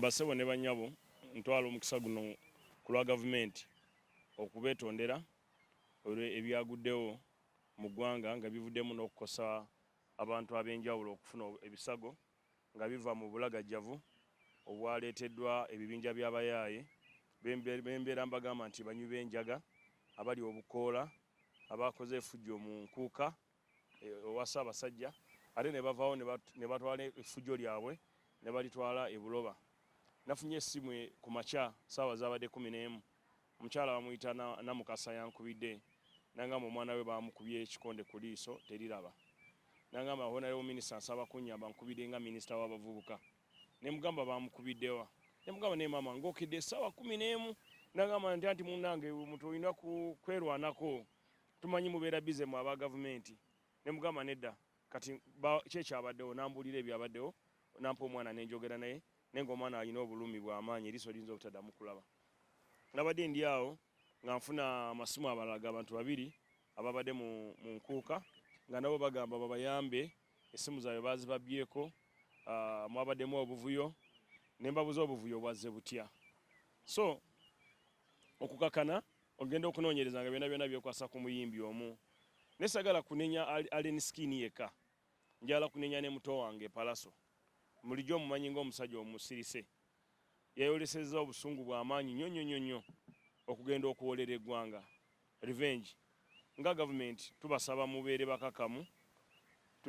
Bassebo ne bannyabo, ntwala omukisa guno ku lwa Gavumenti okubeetondera olwe ebyaguddewo mu ggwanga nga bivuddemu n'okukosa abantu ab'enjawulo okufuna ebisago nga biva mu bulagajjavu obwaleeteddwa ebibinja by'abayaaye be mbeera mbagamba nti banywi b'enjaga, abalya obukoola, abaakoze efujjo mu Nkuuka, owa Ssaabasajja ate ne bavaawo ne batwala effujjo lyabwe ne balitwala e Buloba. Nafunye essimu e, ku makya ssaawa zaabadde kkumi n'emu omukyala bamuyita Namukasa yankubidde nangamba omwana we baamukubye ekikonde ku liiso teriraba nangamba honorable minister nsaba kunnyamba nkubidde nga minisita w'abavubuka ne mugamba baamukubiddewa ne mugamba naye maama ng'okedde essaawa kkumi n'emu nangamba nti anti munnange omuntu olina kwerwanako tumanyi mubeera bize mu aba gavumenti ne mugamba nedda kati ki ekyabaddewo nambuulira ebyabaddewo nampa omwana nenjogera naye naye ngaomwana alina obulumi bwamaanyi eriiso liyinza obutaddamu kulaba nabadde ndi awo nga nfuna amasimu abalala ga bantu babiri ababadde mu nkuuka nga nabo bagamba babayambe essimu zaabwe bazibabyeko ah, mwabaddemu obuvuyo ne mbabuza obuvuyo bwazze butya so okukakana ogenda okunoonyereza nga byona byona byekwasa ku muyimbi omu ne sagala kunenya Allen Skin yeka njala kunenya ne muto wange Palaso mulijo omumanyi nga omusajja omusirise yayoleseza obusungu bwa maanyi nyo nyo nyo nyo okugenda okuwolera eggwanga revenge nga government tubasaba mubeere bakakamu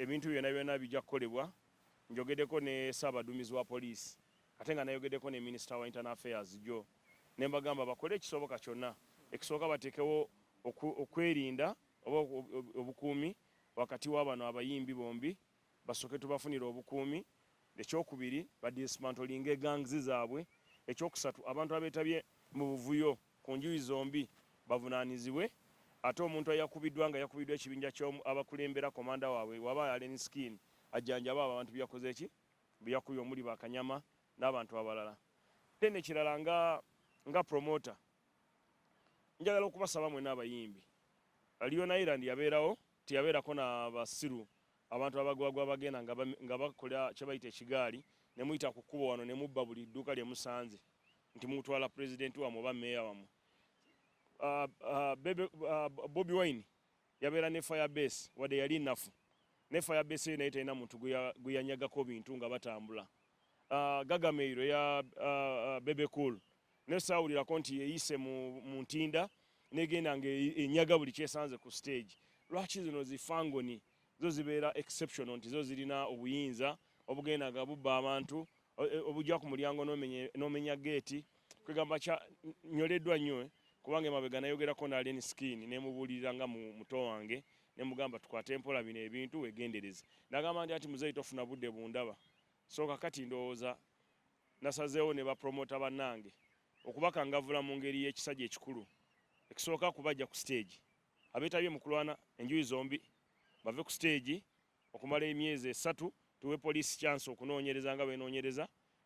ebintu byona byona bijja kukolebwa njogedeko ne saabadumizi wa poliisi Ate nga nayogedeko ne minister wa internal affairs jo nembagamba bakole ekisoboka kyonna ekisooka batekewo okwerinda oba obukuumi wakati wa bano abayimbi bombi basoke tubafunira obukuumi ekyokubiri badismantolinga egangs zaabwe ekyokusatu abantu abetabye mu buvuyo ku njuyi zombi bavunanizibwe ate omuntu ayakubiddwa nga yakubiddwa ekibinja kyabakulembera komanda waabwe waba allen skin ajjanjaba abo abantu byeyakoze ki be yakubye omuli ba Kanyama n'abantu abalala. Then ekirala nga nga promoter njagala okubasaba mwena abayimbi Leon Island yabeerawo teyabeerako na basiru abantu abagwagwa abagenda nga bakola kyebayita ekigaali ne muyita ku kkubo wano ne mubba buli dduuka lye musanze nti mutwala pulezidenti wamwe oba meeya wamwe uh, uh, uh, bobi wine Yabeera ne fire base wadde yali nafu ne fire base naye talina muntu gweyanyagako bintu nga batambula. Uh, Gagameiro ya uh, uh, Bebe Cool naye saawulirako nti yeyise mu, mu ntinda negenda nga e, enyaga buli kyesanze ku stage. Lwaki zino zifangoni zo zibeera exceptional nti zo zirina obuyinza obugenda nga bubba abantu obujja ku mulyango n'omenya geeti kwegamba kya nyoleddwa nnyo eh? kubanga emabega nayogerako naleni skin nemubuulirira nga muto wange nemugamba tukwate empola bino ebintu wegendereze nagamba nti ati muzeeyi tofuna budde bundaba so kakati ndowooza nasazeewo ne bapromota bannange okubakangavula mu ngeri y'ekisajja ekikulu ekisooka kubajja ku siteegi abeetabye mu kulwana enjuyi zombi bave ku siteegi okumala emyezi esatu tuwe poliisi kyansi okunoonyereza nga benoonyereza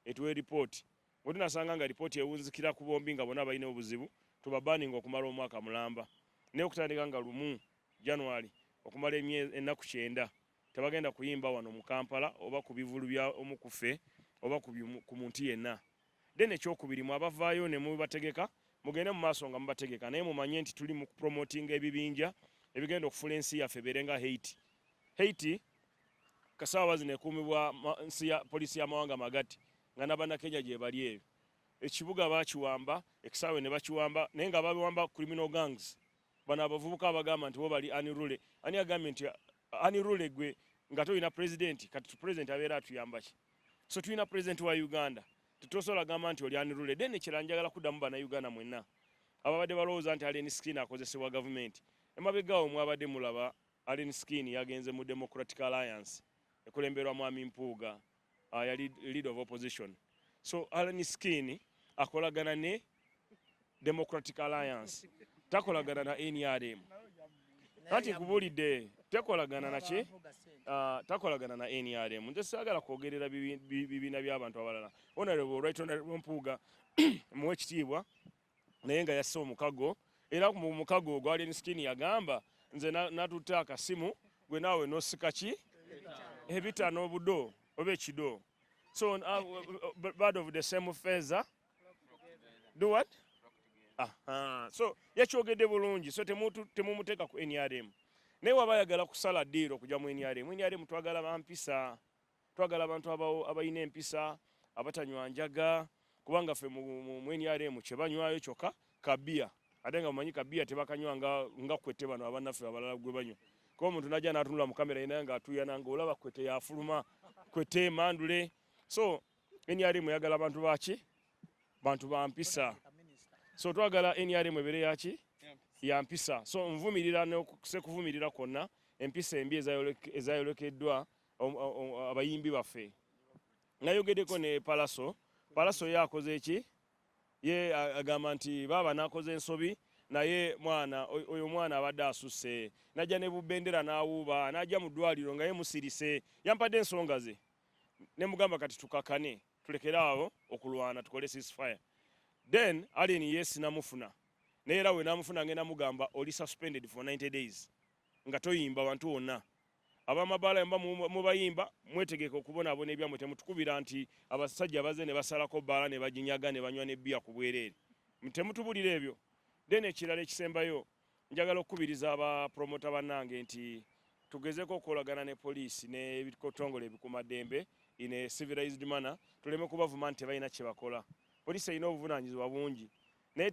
etuwe lipooti bwe tunasanga nga lipooti ewunzikira ku bombi nga bona balina obuzibu tubabaninga okumala omwaka mulamba naye okutandika nga lumu january okumala emyezi ennaku kyenda tebagenda kuyimba wano mu kampala oba ku bivulu bya omu kuffe oba ku muntu yenna Then ekyokubiri mwe abavaayo ne mubategeka mugende mu maaso nga mubategeka naye mumanye nti tuli mu promotinga ebibinja ebigenda okufula ensi yaffe ebeere nga Haiti. Haiti kasaawa zino ekuumibwa nsi ya poliisi y'amawanga magati nga n'Abannakenya gyebali ebyo. Ekibuga baakiwamba, ekisaawe ne bakiwamba naye nga babiwamba criminal gangs. Bano abavubuka abagamba nti bo bali unruly. Ani agambye nti unruly gwe nga tolina pulezidenti kati pulezidenti abeera atuyamba ki? so tulina president wa uganda tetosobola gamba nti oli anirule then ekirala njagala kuddamu banauganda mwenna ababadde balowooza nti alen skin akozesebwa gavumenti emabegaawo mwabadde mulaba alen skin yagenze mu democratic alliance ekulemberwa mwami mpuuga uh, yali lead of opposition so alen skin akolagana ne Democratic Alliance takolagana na NRM anti nkubulidde tekolagana naki ah, takolagana na NRM nze saagala kwogerera bibiina by'abantu abalala honorable right honorable Mpuuga muwe ekitiibwa naye nga yasse omukago era mu mukago ogwa Alien Skin yagamba nze natutte akasimu gwe naawe nosika ki ebitano obudo oba ekido so uh, uh, uh, bird of the same feather do what aha so yakyogedde bulungi so temumuteeka ku nrm naye waba ayagala kusala diiro okujja mu nrm nrm twagala bampisa twagala abantu abalina empisa abatanywa njaga kubanga ffe mu nrm kyebanywayo kyokka kabiya ate nga mumanyi kabiya tebakanywa nga kwete bano abanaffe abalala gwe banywa kuba omuntu najja natunula mu kamera yinaye nga atuyana nga olaba kwete yafuluma kwete emandule so nrm eyagala bantu baki bantu bampisa so twagala nrm ebere yaki yampisa so nvumirira nosekuvumirira kwonna empisa embi ezayolekeddwa abayimbi baffe nayogedeko ne palaso palaso ye akoze ki ye agamba nti baaba nakoze ensobi naye mwana oyo mwana abadde asusse najja ne bubendera n'awuuba najja mu ddwaliro nga ye musirise yampadde ensonga ze ne mugamba kati tukakane tulekere awo okulwana tukole ceasefire then alien yes namufuna naye era we namufuna ngenda mugamba oli suspended for 90 days nga toyimba bantu wonna abamabaala yamba mubayimba mwetegeka okubonaabona ebyamwe temutukubira nti abasajja baze ne basalako bbaala ne baginyaga ne banywa ne bbiya ku bwereere temutubulira ebyo then ekirala ekisembayo Njagala okukubiriza aba promota bannange nti tugezeko okukolagana ne poliisi n'ebitongole ebikumaddembe in a civilized manner tuleme kubavuma nti tebalina kyebakola poliisi erina obuvunaanyizibwa bungi naye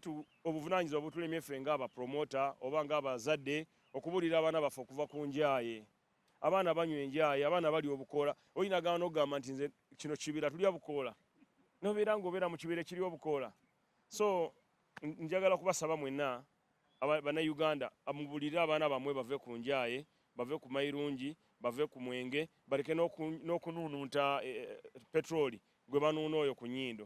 obuvunaanyizibwa butulemye ffe ngaabapromota oba ngaabazadde okubuulira abaana baffe okuva ku njaaye abaana banywa enjaaye abaana bali obukoola oyinagamba nokugamba nti nze kino kibira tulya bukoola nobeera ngaobeera mu kibira ekiri obukoola so njagala kubasaba mwenna Bannayuganda mubuulirire abaana bammwe bave ku njaaye, bave ku mayirungi, bave ku mwenge baleke n'okunuununta petulooli gwe banuuna oyo ku nnyindo.